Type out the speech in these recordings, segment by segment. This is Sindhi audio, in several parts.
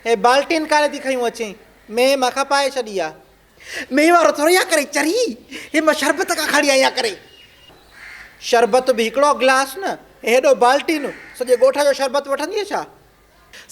هي بالٽين ڪالي ٿي کنيون اچين. مينهن مان کپائي ڇڏي آ. مينهن وارو ٿوري آ ڪري چري. هي مان شربت کان کڻي آئي آ ڪري. شربت به هڪڙو گلاس نه هيڏو بالٽين. سڄي ڳوٺ جو شربت وٺندينء ڇا؟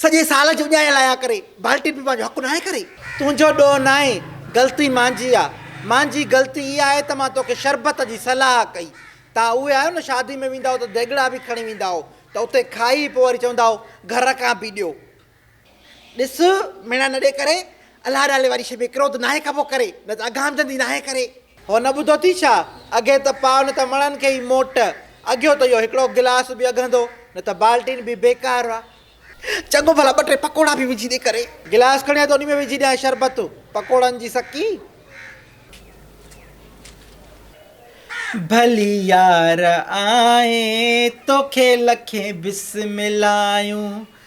سڄي سال جي اجايل آيا ڪري. بالٽين به پنهنجو حق ناهي ڪري. تنهنجو ڏوهه ناهي غلطي مانجي آ. مانجي غلطي اها آهي ته مان توکي شربت جي صلاح ڪئي. توهان اهي آهيو نه شادي ۾ ويندا هئو ته ديڳڙا به کڻي ويندا هئو ته اتي کائي پوء وري چوندا هئو گهر کان به ڏيو. ڏس ميڻا نه ڏي ڪري الله نالي واري شيء ۾ ڪروڌ ناهي کبو ڪري، نه ته اگهام جندي ناهي ڪري. هو نه ٻڌو ٿي ڇا؟ اگهي ته پاء نه ته وڻن کي ئي موٽ، اگهيو ته اهو هڪڙو گلاس به اگهندو، نه ته بالٽين به بيڪار آ. چڱو ڀلا ٻه ٽي پڪوڙا به وجهي ڏي ڪري. گلاس کڻي آء ته انهي ۾ وجهي ڏيانء شربت، پڪوڙن جي سڪي. ڀلي يار آء توکي لکين بسملايون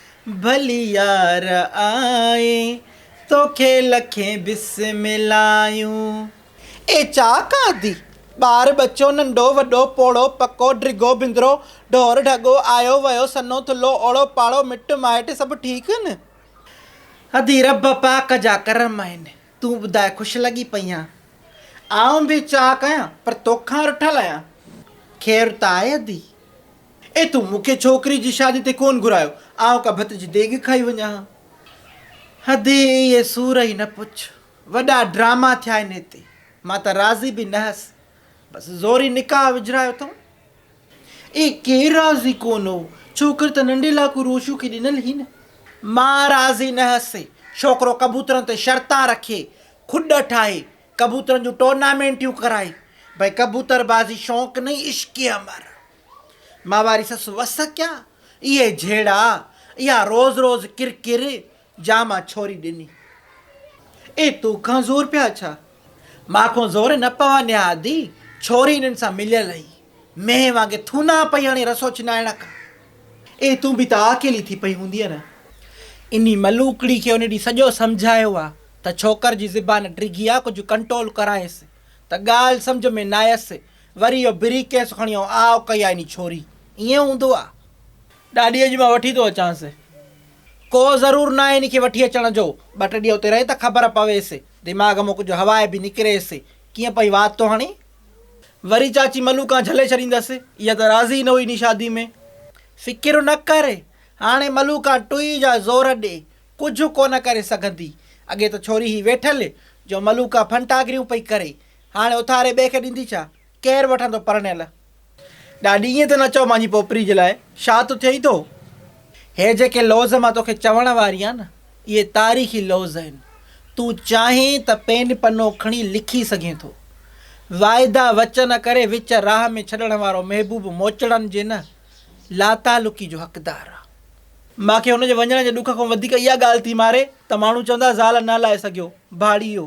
ڀلي يار آء توکي لکين بسم اللهون. اي چاڪ آدي، ٻار ٻچو، ننڍو وڏو، پوڙهو پڪو، ڊگهو بندرو، ڍور ڍڳو، آيو ويو، سنهو ٿلهو، اوڙو پاڙو، مٽ مائٽ سڀ ٺيڪ هن؟ آدي، رب پاڪ جا ڪرم آهن، تون ٻڌاء خوش لڳي پئينء؟ آئون به چاڪ آهيان، پر توکان رٺل آهيان. خير ته آهي آدي؟ اي تو مون کي ڇوڪري جي شادي تي ڪون گهرايو، آئون ڪا ڀت جي ديڳ کائي وڃان ها. ادي اهي سور ئي نه پڇ، وڏا ڊراما ٿيا آهن هتي، مان ته راضي به نه هيس، بس زوري نڪاح وجهرايو اٿئون. اي ڪير راضي ڪون هو، ڇوڪري ته ننڍي لاکو روشو کي ڏنل هئي نه. مان راضي نه هيس، ڇوڪرو ڪبوترن تي شرطان رکي، کڏ ٺاهي، ڪبوترن جون ٽورنامينٽيون ڪرائي، ڀئي ڪبوتر بازي شوق نئي عشقي امر. مان واري سس وس ڪيان اهي جهيڙا اها روز روز ڪر ڪر جا مان ڇوري ڏني. اي تو کان زور پيا ڇا مان کون زور نه پوا نيا ادي ڇوري انهن سان مليل اهي مينهن وانگي ٿونا پئي هڻي رسو ڇنائڻ کان اي تون به ته آڪيلي ٿي پئي هوندينء نه. انهي ملوڪڙي کي ان ڏينهن سڄو سمجهايو آ ته ڇوڪر جي زبان ڊگهي آ ڪجهه ڪنٽول ڪرائينس ته ڳالهه سمجهه ۾ نايس وري اهو بري ڪيس کڻي آئون آء ڪئي آ اني ڇوري ائين هوندو آ. ڏاڏي اڄ مان وٺي ٿو اچانس. ڪو ضرور ناهي اني کي وٺي اچڻ جو ٻه ٽي ڏينهن اتي رهي ته خبر پويس دماغ مان ڪجهه هواء به نڪريس ڪيئن پئي وات ٿو هڻي. وري چاچي ملو کان جهلي ڇڏيندس اها ته راضي ئي نه هئي اني شادي ۾. فڪر نه ڪر هاڻي ملو کان ٽوئي جا زور ڏي ڪجهه ڪونه ڪري سگهندي اڳي ته ڇوري هي ويٺل جو ملو کان ڦنٽاگريون پئي ڪري هاڻي اٿاري ٻئي کي ڏيندي ڇا؟ ڪير وٺندو پرڻيل؟ ڏاڏي ائين ته نه چئو مانجي پوپري جي لاء شا ٿو ٿئي ٿو. هي جيڪي لوظ مان توکي چوڻ واري آهيان نه اهي تاريخي لوظ آهن. تون چاهين ته پين پنو کڻي لکي سگهين ٿو. واعدا وچن ڪري وچ راهه ۾ ڇڏڻ وارو محبوب موچڙن جي نه لاتعلقي جو حقدار آ. مان کي هن جي وڃڻ جي ڏک کان وڌيڪ اها ڳالهه ٿي ماري ته ماڻهو چوندا زال نه لائي سگهيو. ڀاڙيو.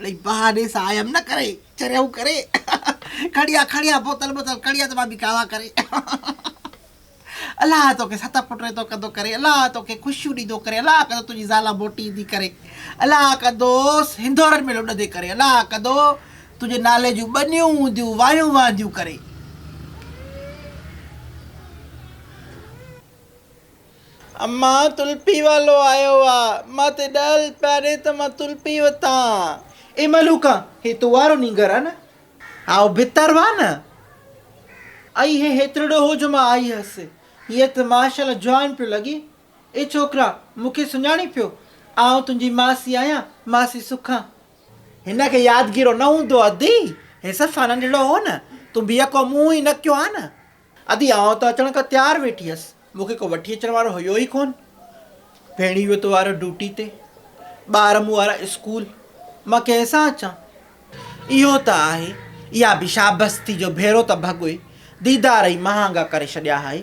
اڙي بهاني سان آيم نه ڪري چريائون ڪري کڻي آ کڻي آ بوتل بوتل کڻي آ ته مان به ڪاوا ڪري الله توکي ست پٽ ريتو ڪندو ڪري الله توکي خوشيون ڏيندو ڪري الله ڪندو تنهنجي زالا موٽي ايندي ڪري الله ڪندو هندورن ۾ لڏندي ڪري الله ڪندو تنهنجي نالي جون ٻنيون هونديون وايون وانديون ڪري امان تلپي والو آيو آ. مان تي ڏهل پيارين ته مان تلپي وتان. اي ملوڪان هي تو وارو نينگر آ نه. ها او ڀتر وا نه. اي هي هيترڙو هو جو مان آئي هيس. هيء ته ماشاء الله جوان پيو لڳي. اي ڇوڪرا مون کي سڃاڻين پيو. آئون تنهنجي ماسي آهيان ماسي سکان. هن کي يادگيرو نه هوندو ادي. هي صفا ننڍڙو هو نه. تون بي اڪو مون ئي نڪيو ها نه. ادي آء ته اچڻ کان تيار ويٺي هيس، مون کي ڪو وٺي اچڻ وارو هيو ئي ڪونه. ڀيڻي ويو توارو ڊيوٽي تي، ٻار مون وارا اسڪول، مان ڪنهن سان اچان؟ اهو ته آهي، اها به شابستي جو ڀيرو ته ڀڳوئي ديدار ئي مهانگا ڪري ڇڏيا هائي.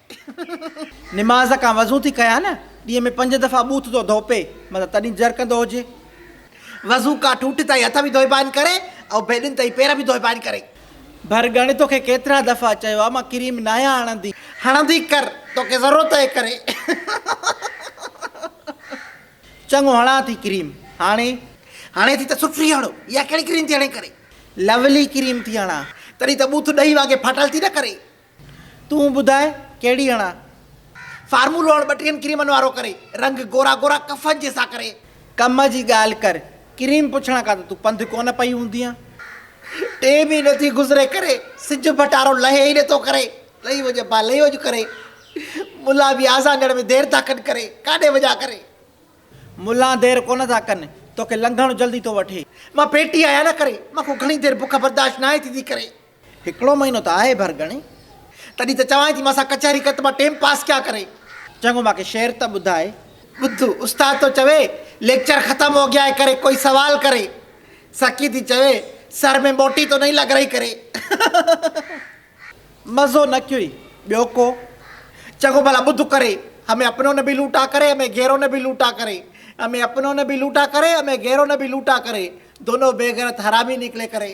نماز کان وضو ٿي ڪيا نه ڏينهن ۾ پنج دفعا ٻوٿ ٿو ڌوپي مطلب تڏهن جر ڪندو هجي. وضو کان ٺوٺ تائين هٿ به ڌوئبا آهن ڪري ۽ بيدن تائين پير به ڌوئبا آهن ڪري. ڀر ڳڻ توکي ڪيترا دفعا چيو آهي مان ڪريم ناهيان هڻندي. هڻندي ڪر توکي ضرورت آهي ڪري. چڱو هڻان ٿي ڪريم هاڻي. هڻي ٿي ته سٺري هڻ اها ڪهڙي ڪريم ٿي هڻي ڪري. لولي ڪريم ٿي هڻان. تڏهن ته ٻوٿ ڏهي وانگي ڦاٽل ٿي نه ڪري. تون ٻڌاء ڪهڙي هڻان. فارمولو هڻ ٻٽيهن ڪريمن وارو ڪري. رنگ گورا گورا ڪفن جي سا ڪري. ڪم جي ڳالهه ڪر ڪريم پڇڻ کان ته تون پنڌ ڪونه پئي هوندينء. ٽي به نه ٿي گذري ڪري. سج ڀٽارو لهي ئي نٿو ڪري. لئي وڃ ڀا لئي وڃ ڪري. ملان به آذان ڏيڻ ۾ دير ٿا ڪن ڪري. ڪاڏي وڃان ڪري. ملان دير ڪونه ٿا ڪن. توکي لنگهڻو جلدي ٿو وٺي. مان پيٽي آهيان نه ڪري. مان کان گهڻي دير بک برداشت ناهي ٿيندي ڪري. هڪڙو مهينو ته آهي ڀرڳڻي. تڏهن ته چوانء ٿي مان سان ڪچهري ڪر ته مان ٽيم پاس ڪيا ڪري. چڱو مان کي شعر ته ٻڌاء. ٻڌ استاد ٿو چوي ليڪچر ختم هو گيا هي ڪري ڪوئي سوال ڪري. سکي ٿي چوي سر مين موٽي تو نهين لڳ رهي ڪري. مزو نه ڪيوئي ٻيو ڪو. چڱو ڀلا ٻڌ ڪري همي اپنو نه ڀي لوٽا ڪري همي گهيرو نه ڀي لوٽا ڪري همي اپنو نه ڀي لوٽا ڪري همي گهيرو نه ڀي لوٽا ڪري. دونو بيغيرت حرامي نڪلي ڪري.